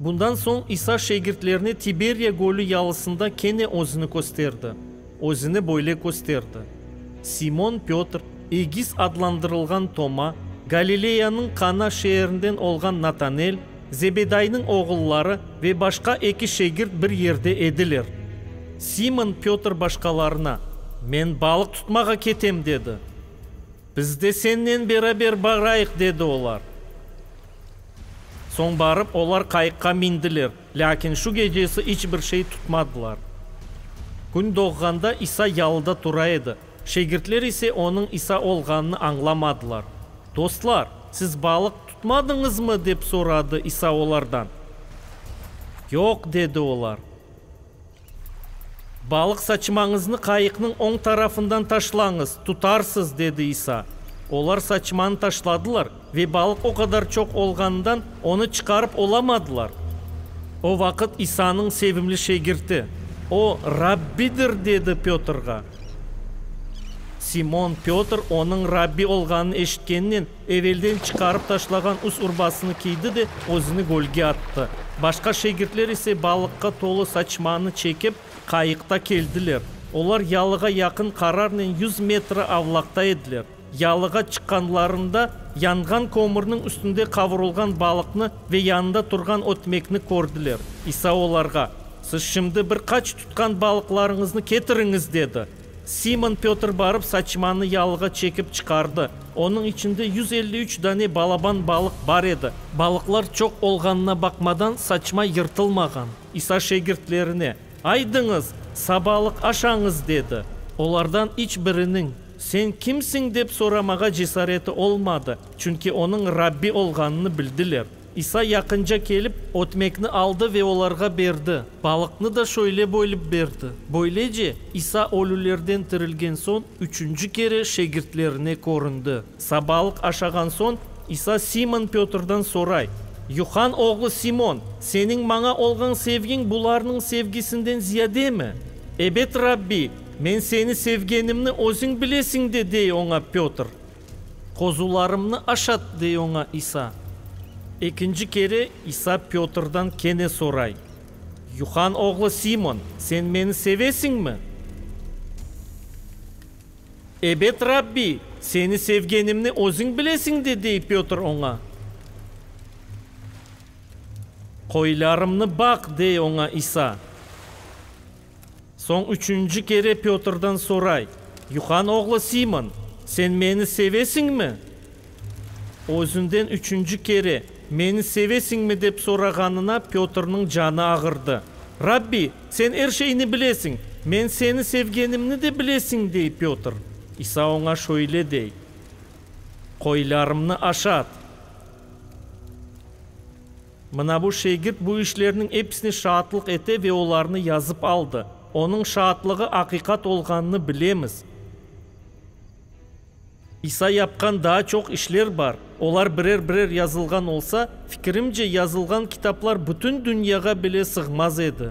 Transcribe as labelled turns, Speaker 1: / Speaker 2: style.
Speaker 1: Bundan soñ İsa şegirtlerine Tiberiya gölü yalısında kene özüni kösterdi. Özüni böyle kösterdi, Simon Pötr, Egis adlandırılğan Toma, Galileyanıñ Kana şeerinden olğan Natanel, Zebedaynıñ oğulları ve başqa eki şegirt bir yerde ediler. Simon Pötr başqalarına, Men balıq tutmağa ketem, dedi. Biz de sennen beraber barayıq, dedi olar. Soñ barıp, olar qayıqqa mindiler, lâkin şu gecesi iç bir şey tutmadılar. Kün doğğanda İsa yalıda tura edi, şegirtler ise onıñ İsa olğanını añlamadılar. Dostlar, siz balıq tutmadıñızmı? dep soradı İsa olardan. Yoq, dedi olar. Balıq saçmañıznı qayıqnıñ oñ tarafından taşlañız, tutarsız, dedi İsa. Olar saçmanı taşladılar, ve balıq o qadar çoq olğanından, onı çıqarıp olamadılar. O vaqıt İsanıñ sevimli şegirti, O, Rabbidir! dedi Pötrğa. Simon Pötr onıñ Rabbi olğanını eşitkennen, Evelden çıqarıp taşlağan üst urbasını kiydi de özüni gölge attı. Başqa şegirtler ise balıqqa tolu saçmanı çekip, qayıqta keldiler. Olar yalığa yaqın qararnen yüz metre avlaqta ediler. Yalığa çıqqanlarında yanğan kömürniñ üstünde qavurılğan balıqnı ve yanında turğan ötmekni kördiler. İsa olarğa, Siz şimdi bir qaç tutqan balıqlarıñıznı ketiriñiz, dedi. Simon Pötr barıp saçmanı yalığa çekip çıqardı. Onıñ içinde yüz elli üç dane balaban balıq bar edi. Balıqlar çoq olğanına baqmadan, saçma yırtılmağan. İsa şegirtlerine, Aydıñız, sabalıq aşañız, dedi. Olardan iç biriniñ, Sen kimsiñ? dep soramağa cesareti olmadı, çünki onıñ Rabbi olğanını bildiler. İsa yaqınca kelip, ötmekni aldı ve olarğa berdi, balıqnı da şöyle bölip berdi. Böylece, İsa ölülerden tirilgen soñ, üçünci kere şegirtlerine köründi. Sabalıq aşağan soñ, İsa Simon Pötrden soray, Yuhan oğlu Simon, seniñ maña olğan sevgiñ bularnıñ sevgisinden ziyademi? Ebet, Rabbi, men seni sevgenimni özüñ bilesiñ de, dey oña Pötr. Qozularımnı aşat, dey oña İsa. Ekinci kere İsa Pötrden kene soray, Yuhan oğlu Simon, sen meni sevesiñmi? Ebet, Rabbi, seni sevgenimni özüñ bilesiñ de, dey Pötr oña. Qoylarımnı baq, dey oña İsa. Soñ üçünci kere Pötrden soray, Yuhan oğlu Simon, sen meni sevesiñmi? Özünden üçünci kere, Meni sevesiñmi? dep sorağanına Pötrniñ canı ağırdı. Rabbi, sen er şeyni bilesiñ, men seni sevgenimni de bilesiñ, dey Pötr. İsa oña şöyle dey, Qoylarımnı aşat. Mına bu şegird bu işlerniñ episine şaatlıq ete ve olarnı yazıp aldı. Onıñ şaatlığı aqiqat olğanını bilemiz. İsa yapqan daa çoq işler bar. Olar birer-birer yazılğan olsa, fikirimce, yazılğan kitaplar bütün dünyağa bile sığmaz edi.